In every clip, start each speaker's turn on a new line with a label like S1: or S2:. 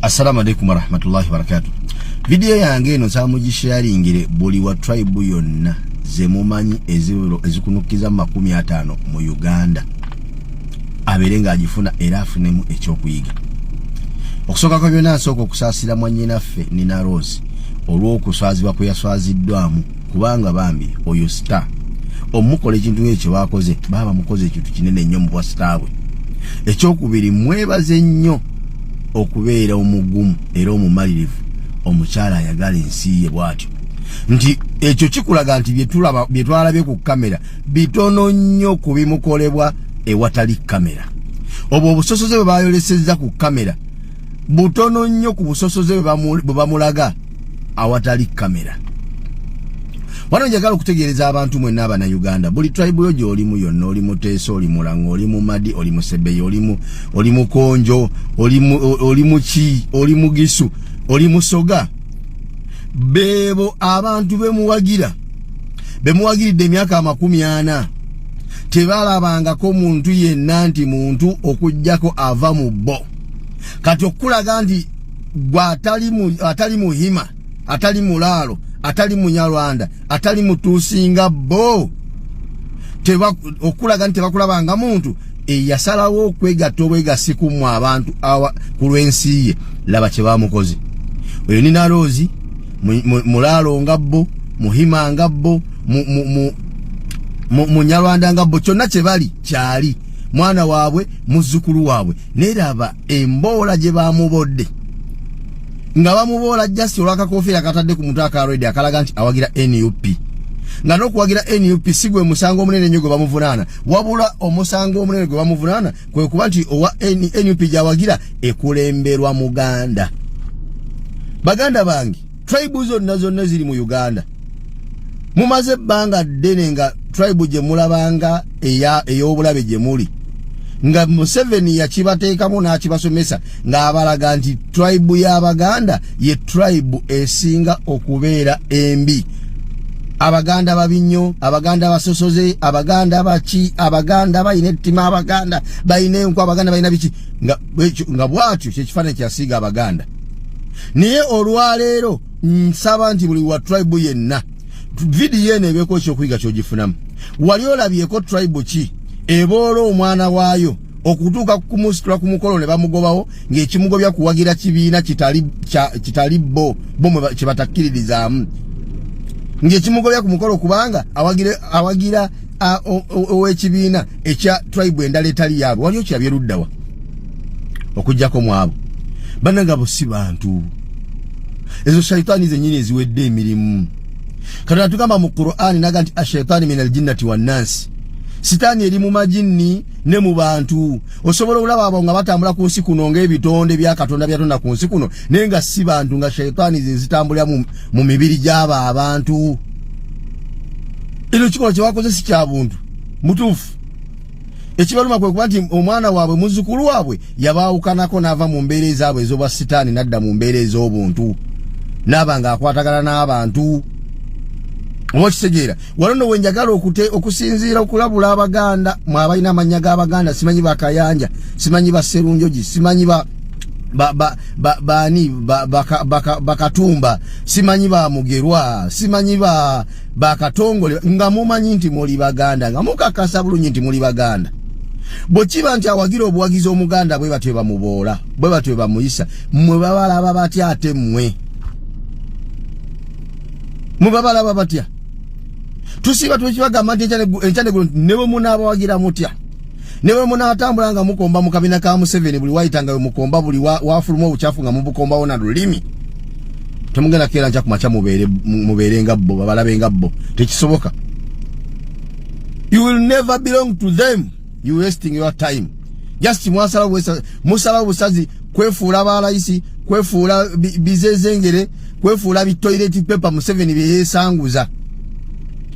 S1: Assalamu alaikum warahmatullahi wabarakatuh. Video yange eno samugisharingire buli wa tribe yonna zemumanyi ezikunukiza makumi atano mu Uganda abere nga agifuna era afunemu ekyokuyiga. Okusooka kwa byonna nsooka okusaasira mwannyinaffe Nina Rose olw'okuswazibwa kwe yaswaziddwamu kubanga bambi oyo star omukola ekintu ngekyo kyebakoze baaba mukoze ekintu kinene nnyo mubwa star bwe ekyokubiri mwebaze nnyo okubeera omugumu era omumalirivu omukyala ayagala ensi ye bwatyo nti ekyo kikulaga nti byetwalabye ku kamera bitono nnyo ku bimukolebwa ewatali kamera obwo obusosoze bwe bayolesezza ku kamera butono nnyo ku busosoze bwe bamulaga awatali kamera wano njagala okutegeereza abantu mwenna abana uganda buli tribe yo gyolimu yonna oli muteesa oli mulanga oli mumadi oli musebeyi oli mukonjo oli muki oli mugisu oli musoga beebo abantu bemuwagira bemuwagiridde emyaka amakumi ana tebalabangako muntu yenna nti muntu okugyako ava mu bo kati okukulaga nti gwa atali mu atali muhima atali mulalo atali munyarwanda atali mutusinga bo teba okulaga nti bakulaba nga muntu eyasalawo okwegatta obwegasiku mu abantu awa ku lwensi ye laba kye bamukoze oyo ni naloozi mulaalo nga bo muhima nga bo munyarwanda nga bo kyonna kye bali kyali mwana waabwe muzzukulu waabwe naye laba emboola gye baamubodde nga bamuboola just olwakakofiira katadde ku mutwe aka redi akalaga nti awagira nup nga n'okuwagira nup si gwe musango omunene nnyo gwe bamuvunaana wabula omusango omunene gwe bamuvunaana kwe kuba nti owa nup gyawagira ekulemberwa muganda baganda bange tribe zonna zonna ziri mu uganda mumaze ebbanga ddene nga tribe gye mulabanga ey'obulabe gye muli nga museveni yakibateekamu n'akibasomesa ng'abalaga nti tribe y'abaganda ye tribe esinga okubeera embi abaganda babi nnyo abaganda basosoze abaganda baki abaganda balina ettima abaganda balina enku abaganda balina biki nga bwatyo kyekifaananyi kyasiiga abaganda naye olwaleero nsaba nti buli wa tribe yenna vidiyo eno ebeeko ekyokuyiga kyogifunamu wali olabyeko tribe ki eboola omwana waayo okutuuka kumusitula ku mukolo ne bamugobawo ng'ekimugobya kuwagira kibiina kitali bo bo kye batakkiririzaamu ng'ekimugobya ku mukolo kubanga awagira ow'ekibiina ekya tribe endala etali yaabwe wali okirabye luddawa okujjako mwabo bananga bo si bantu ezo shaitaani zenyini eziwedde emirimu katonda tugamba mu qurani naga nti ashaitaani min aljinnati wannansi sitaani eri mu majinni ne mu bantu osobola okulaba abo nga batambula ku nsi kuno ngaebitonde bya katonda byatonda ku nsi kuno naye nga si bantu nga shaitaani zezitambulira mu mibiri gy'abo abantu ino kikola kyewakoze si kya buntu mutuufu ekibaluma kwe kuba nti omwana waabwe muzzukulu waabwe yabaawukanako n'ava mu mbeera ezaabwe ez'obwa sitaani n'adda mu mbeera ez'obuntu n'aba ng'akwatagana n'abantu oba okitegeera wano no wenjagala okute okusinziira okulabula abaganda mwe abalina amannya g'abaganda simanyi bakayanja simanyi baserunjogi simanyi ba baani bakatumba simanyi ba mugerwa simanyi ba bakatongole nga mumanyi nti muli baganda nga mukakasa bulungi nti muli baganda bwe kiba nti awagira obuwagizi omuganda bwe batyo bamuboola bwe batyo bamuyisa mwe babalaba batya ate mmwe mwe babalaba batya tusiiba twekibagamba nti enkyanegulo ne bwe munaabawagira mutya newe munatambula nga mukomba mu kabina ka Museveni buli waita nga mukomba buli wafuluma obuchafu nga mubukomba wona lulimi temugenda kera nja kumacha mubere mubere nga bo babalabe nga bo tekisoboka you will never belong to them you wasting your time just mwasala wesa musala busazi kwefuula balayisi kwefuula bizezengere kwefuula bi toilet paper Museveni byeyesanguza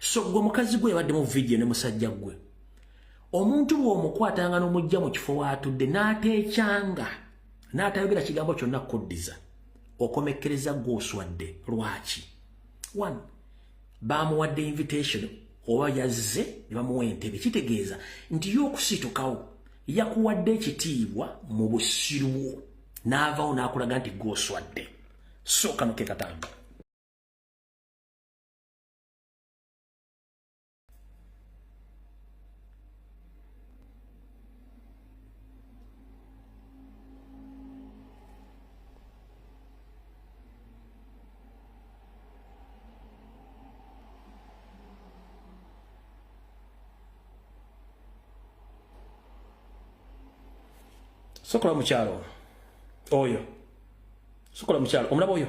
S2: so gwe mukazi gwe yabadde mu vidiyo ne musajja gwe omuntu bw'omukwatanga n'omujja mu kifo waatudde n'ateekyanga n'atayogera kigambo kyonna kukuddiza okomekkereza gw'oswadde lwaki one baamuwadde invitation oba yazze ne bamuwa entebe kitegeeza nti yo okusitukawo yakuwadde ekitiibwa mu busirwo n'avawo n'akulaga nti gw'oswadde sooka nokekatambi sokola mukyalo oyo sokola mukyalo omulaba oyo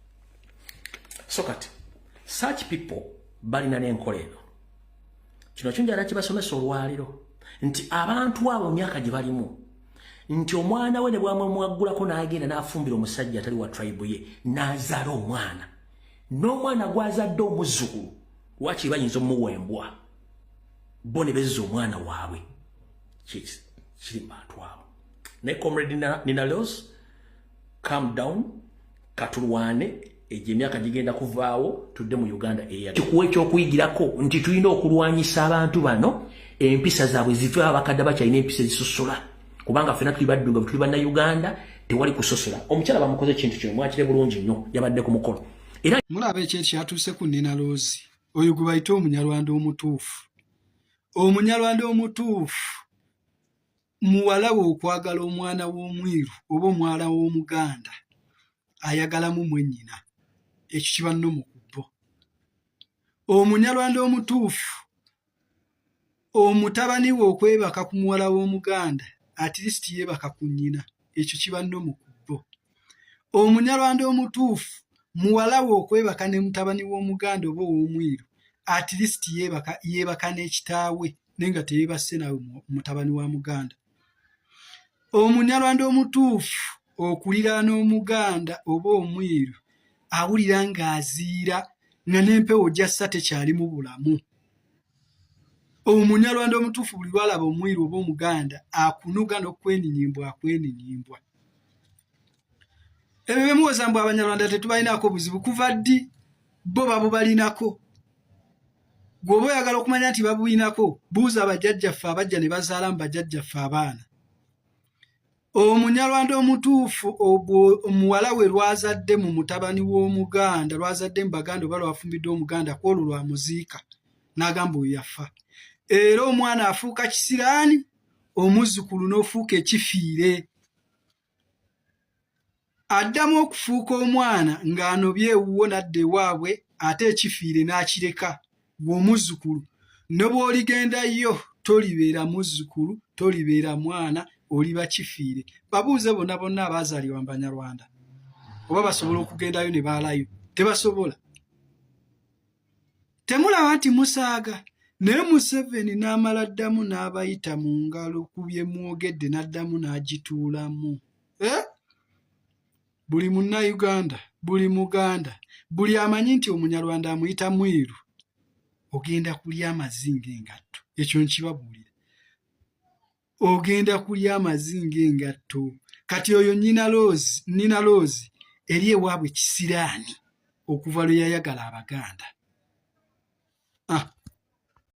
S2: so kati such people balina n'enkola eno kino kinjala kibasomesa olwaliro nti abantu abo myaka gye balimu nti omwana we ne bwamwemwaggulako n'agenda n'afumbira omusajja atali wa tribe ye n'azaala omwana n'omwana gwazadde omuzzukulu wakiri bayinza omuwembwa bo ne bezza omwana waabwe kiri mu bantu abo naye comrade nina leos calm down katulwane egyo emyaka gigenda kuvaawo tudde mu uganda eya kikuwa ekyokuyigirako nti tulina okulwanyisa abantu bano empisa zaabwe zive abakadde bakyalina empisa ezisosola kubanga fena tuli baddunga tuli banna uganda tewali kusosola omukyala bamukoze ekintu kino mwakire bulungi nnyo yabadde ku mukolo era mulaba ekyo ekyatuuse
S3: ku nina loozi oyo gwe bayite omunyarwanda omutuufu omunyarwanda omutuufu muwala we okwagala omwana w'omweru oba omwala w'omuganda ayagalamu mwennyina ekyo kiba no mu kubbo omunyarwanda omutuufu omutabani we okwebaka ku muwala w'omuganda atirisiti yeebaka ku nnyina ekyo kiba no mu kubbo omunyarwanda omutuufu muwala we okwebaka ne mutabani w'omuganda oba ow'omweru atirisiti yeebaka n'ekitaawe naye nga teyebasse nawe mutabani wa muganda omunyarwanda omutuufu okuliraana omuganda oba omwiru awulira ng'aziira nga n'empewo gyassa tekyalimu bulamu omunyarwanda omutuufu buli lwalaba omwiru oba omuganda akunuga n'okweninyimbwa akweninyimbwa ebyo bemuwoza mbu abanyarwanda tetubalinako buzibu kuva ddi bo babubalinako gweoba oyagala okumanya nti babulinako buuza abajajjaffe abajja ne bazaala mu bajajjaffe abaana omunyarwanda omutuufu omuwala we lwazadde mu mutabani w'omuganda lwazadde mu baganda oba lwafumbidde omuganda ku olwo lwamuziika n'agamba oyo yafa era omwana afuuka kisiraani omuzzukulu n'ofuuka ekifiire Addamu okufuuka omwana ng'anobye ewuwo n'adda ewaabwe ate ekifiire n'akireka ggwe omuzzukulu ne bw'oligenda yo tolibeera muzzukulu, tolibeera mwana oliba kifiire. Babuuze bonna bonna abaazaalibwa mu Banyarwanda oba basobola okugendayo ne baalayo, tebasobola. temulaba nti musaaga naye museveni n'amala ddamu n'abayita mu ngalo ku bye mwogedde n'addamu n'agituulamu eh? buli munnayuganda buli muganda buli amanyi nti omunyarwanda amuyita mwiru ogenda kulya amazinga engatto ekyo nkibabuulira ogenda kulya amazi ng'engatto kati oyo nina loozi nina loozi eri ewaabwe kisiraani okuva lwe yayagala abaganda ah.